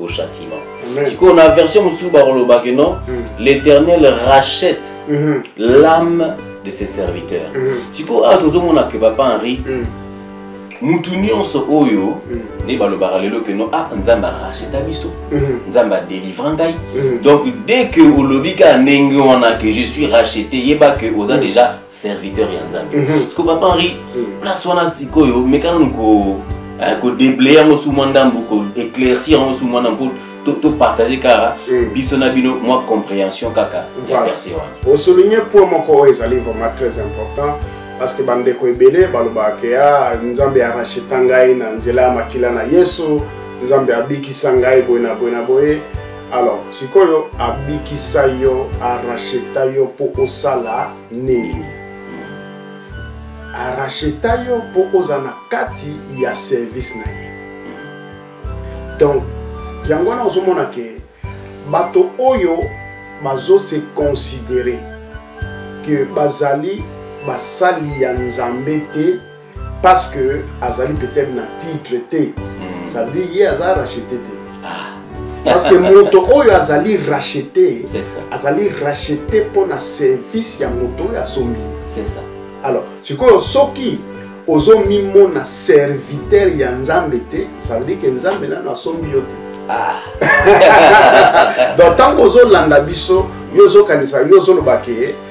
au châtiment. Sikoyo na version mosusu bakoloba que non, mm. l'Éternel rachète mm -hmm. l'âme de ses serviteurs. Mm -hmm. Sikoyo awa tozomona que papa Henri mm. mutu nyonso oyo mm. nde balobaka lelo que non ah nzambe aracheta biso mm-hmm. nzambe adelivra ngai mm-hmm. donc dès que olobi kaka ndenge wana que je suis racheté yeba que oza mm. déjà serviteur ya nzambe mm -hmm. siko papa henri mm -hmm. place wana sikoyo mekana ko eh, kodeblaye yango su mwa ndambo koéclaircir yango su mwa ndambo topartage to kaka mm. biso na bino mwa comprehension kaka voilà. ya verse wana osouligne point moko oyo ezali vraiment très important parce que bandeko ebele balobaka ke ya ah, nzambe aracheta ngai na nzela ya makila na yesu nzambe abikisa ngai boye na boye na boye alors sikoyo abikisa yo aracheta yo mpo osala nini aracheta yo mpo ozala na kati ya service na ye donc yango wana ozomona ke bato oyo bazo se considere ke bazali basali ya nzambe te parce que azali peut-être na titre te hmm. ça veut dire ye aza rachete te ah. parce que moto oyo azali rachete azali rachete mpo na service ya moto oyo asombi alors sikoyo soki ozomimona serviteur ya nzambe te ça veut dire que nzambe nano asombi yo te ah. donc ntango ozolanda biso yo ozokanisa yo ozoloba ke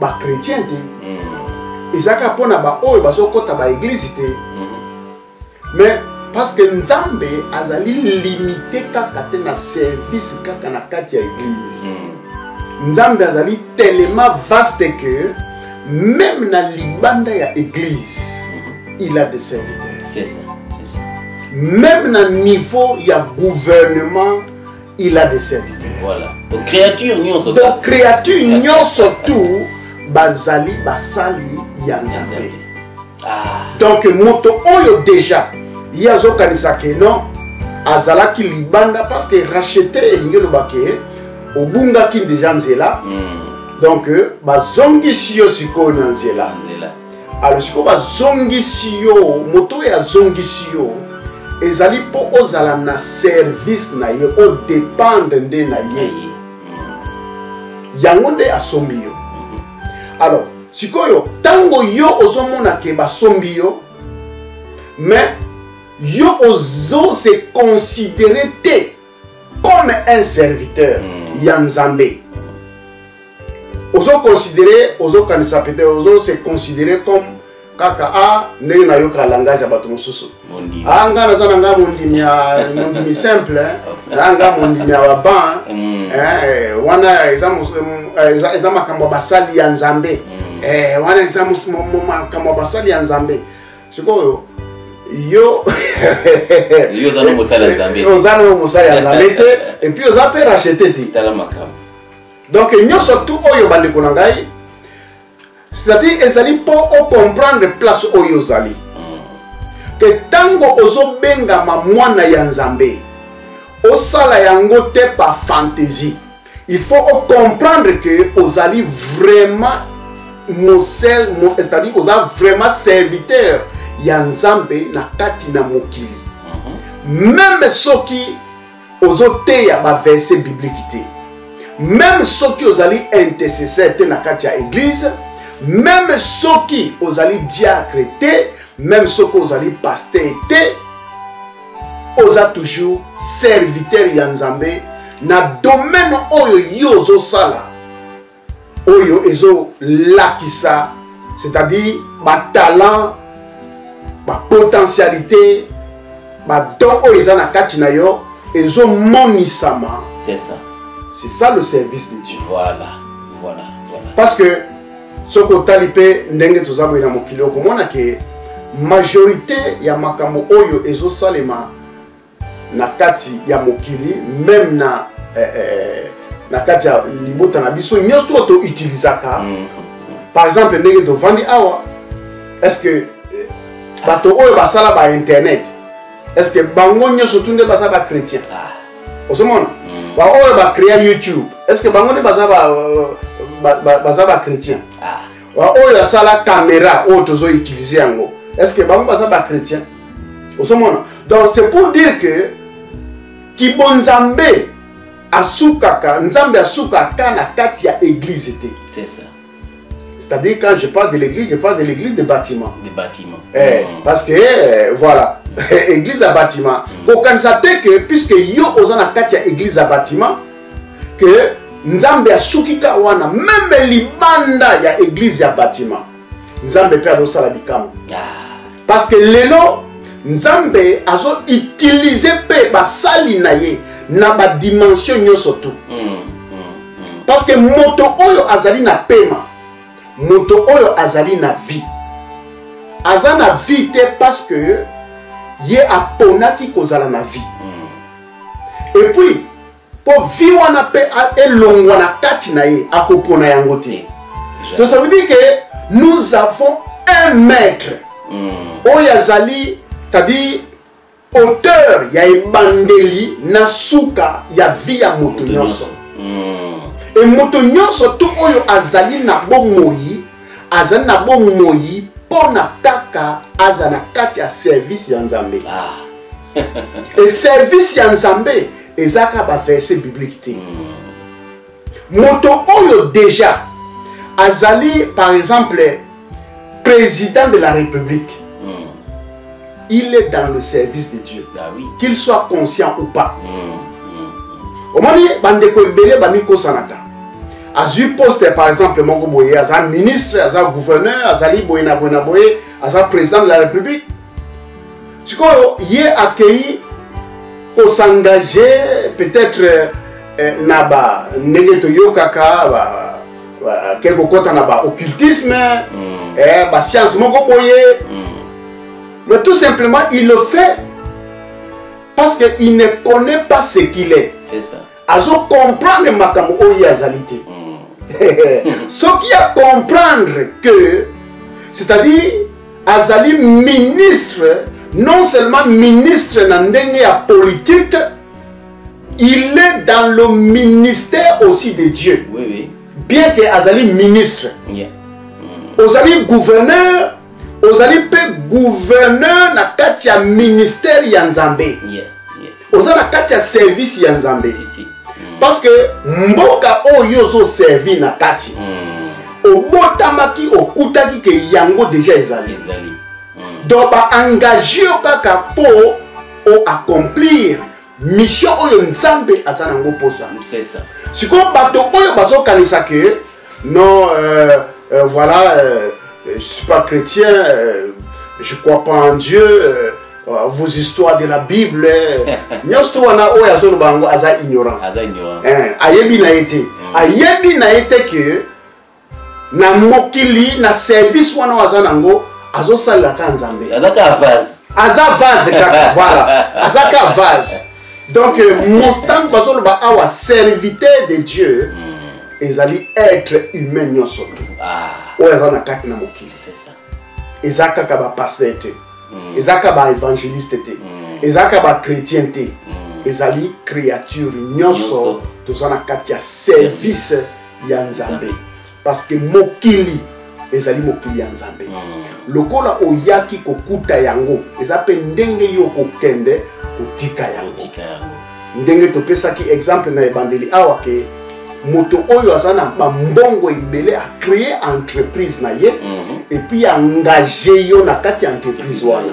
ba chrétien te mm. ezalaka mpo na baoyo bazokɔta baeglize te mm-hmm. mais parce que nzambe azali limite kaka te na service kaka na kati ya eglize mm. nzambe azali tellement vaste que même na libanda ya eglize mm-hmm. il a des serviteurs même na niveau ya gouvernement il a des serviteurs voilà donc créature nyonso donc créature nyonso tout bazali basali ya nzambe ah. donc moto oyo déjà ye azokanisa ke non azalaki libanda parce que rachete elingi oloba ke obungaki déjà nzela mm. donc euh, bazongisi yo sikoyo na nzela alo sikoyo bazongisi yo moto oyo azongisi yo ezali mpo ozala na service na ye odependre nde na ye yango nde asombi yo alors sikoyo ntango yo ozomona ke basombi yo mais yo ozo se considere te comme un serviteur mm. ya nzambe ozo considere ozokanisa peut-être ozo se considere comme kaka a ah, ndenge nayoka langage ya bato mosusu a ah, ngai naza na ngai mondimi ya mondimi simple na ngai mondimi ya baban mm. eh, eh, wana eza eh, makambo ya basali ya nzambe mm. wana eza makambo ya basali ya nzambe sikoyo yo yo oza no mosali ya nzambe te. oza nayo mosali ya nzambe te epuis oza mpe rachete te tala makambo donc nyonso tu oyo bandeko na ngai c'est-à-dire ezali mpo ocomprendre place oyo ozali Mm. ke ntango ozobengama mwana ya nzambe osala yango te par fantaisie il faut ocomprendre ke ozali vraiment mosel mo, c'est-à-dire oza vraiment serviteur ya nzambe na kati na mokili mhm. meme soki ozoteya baverse biblike te meme soki ozali intercesseur te na kati ya eglize meme soki ozali diacre te meme soki ozali pasteur te oza toujours serviteur ya nzambe na domaine oyo yo ozosala oyo ezolakisa c'est-à-dire batalent bapotentialité badon oyo eza na kati na yo ezomonisama c'est ça c'est ça le service de dieu voilà voilà, voilà. parce que soki otali mpe ndenge toza boye na mokili okomona ke majorité ya makambo oyo ezosalema na kati ya mokili meme na eh, eh, na kati ya libota na biso nyonso to toutilisaka mm, mm, mm. par exemple ndenge tovandi awa est ce que eh, bato oyo basala ba internet est ce que bango nyonso tu nde baza ba chrétien ah. ozomona mm. baoyo bacrea youtube est ce que bango nde baza baza bachrétien ah. baoyo asala caméra oyo tozo utilise yango est ce que bango baza bachrétien ozomona donc c'est pour dire que kibonzambe asukaka nzambe asukaka na kati ya eglize te C'est-à-dire quand je parle de l'église, je parle de l'église des bâtiments. Des bâtiments. Eh, mm. Parce que, eh, voilà, église à bâtiment. Mm. Kokanisa te que, puisque yo oza na kati ya église à bâtiment, que Nzambe asuki ka wana, même libanda ya église ya bâtiment. Nzambe pe azosala likambo. Ah. Parce que lelo, Nzambe azo utiliser pe basali na ye na ba dimension nyonso tout. Mm. parce que moto oyo azali na pema moto oyo azali na vie aza na vie te parce que ye aponaki kozala na vie mm. et puis mpo vie wana mpe elongwa na kati na ye akopona yango te donc ça veut dire que nous avons un maître mm. oyo azali c'est-à-dire auteur ya ebandeli na suka ya vie ya moto nyonso e moto nyonso to oyo azali na bomoi azali na bomoi mpo na kaka aza na kati ya service ya nzambe ah. e service ya nzambe ezalaka baverse biblique te mm. moto oyo deja azali par exemple président de la république mm. il est dans le service de dieu bah, oui. qu'il soit conscient ou pas mm. omoni bandeko ebele bamikosanaka azwi poste par exemple moko boye aza ministre aza gouverneur azali boye na boye na boye aza président de la république sikoyo ye akei kosengage peut-être eh, eh, na ba ndenge toyokaka ke kokɔta na ba occultisme mm. eh, ba science moko boye mm. mais tout simplement il le fait parce qu'il ne connaît pas ce qu'il est. C'est ça. azo comprendre makambo oyo ye azali te hmm. soki ya comprendre que c'est-à-dire azali ministre non seulement ministre na ndenge ya politique il est dans le ministère aussi de dieu oui, oui. bien que azali ministre yeah. mm. ozali gouverneur ozali mpe gouverneur na kati ya ministère ya nzambe yeah. oza na kati ya service ya nzambe parce que mboka oyo ozo servir na kati hmm. obotamaki okutaki ke yango deja ezali hmm. donc baengage yo kaka mpo o accomplir mission oyo nzambe aza nango mposa sikoyo bato oyo bazokanisa ke Non, euh, euh, voilà, euh, je suis pas chrétien, euh, je crois pas en Dieu. Euh, euh vos histoires de la Bible, hein. nyonso to wana oyo azoloba yango aza ignorant hein, ayebi na ye te mm. ayebi na ye te ke na mokili na service wana oyo aza nango azosalelaka nzambe aza vase kaka voilà aza ka vase donc euh, mostango bazoloba awa serviteur de dieu hmm. ezali être humain nyonso tu ah. oyo aza na kati na mokili eza kaka bapaster te hmm. eza kaka baevangeliste te hmm. eza kaka bachrétien te ezali créature nyonso toza na kati ya service ya nzambe parce que mokili ezali mokili ya nzambe hmm. lokola oyaki kokuta yango eza mpe ndenge yo kokende kotika yango ndenge topesaki exemple na ebandeli awa ke moto oyo aza na bambongo ebele acree entreprise na ye mm -hmm. epuis engage yo na kati ya entreprise wana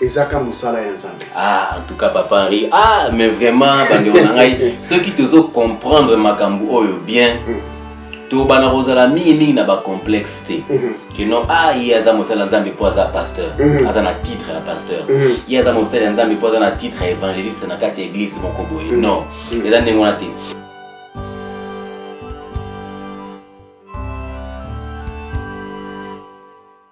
ezaka mosala ya nzambe ah, en tout cas papa henri ah mais vraiment bandeko na ngai soki tozo comprendre makambo oyo bien mm. tobana kozala mingimingi na bacomplexe te mm-hmm. kino a ah, ye aza mosala ya nzambe mpo aza pasteur mm-hmm. aza na titre ya pasteur mm-hmm. ye aza mosala ya nzambe mpo aza na titre ya évangéliste na kati ya église moko boye non eza ndenge wana te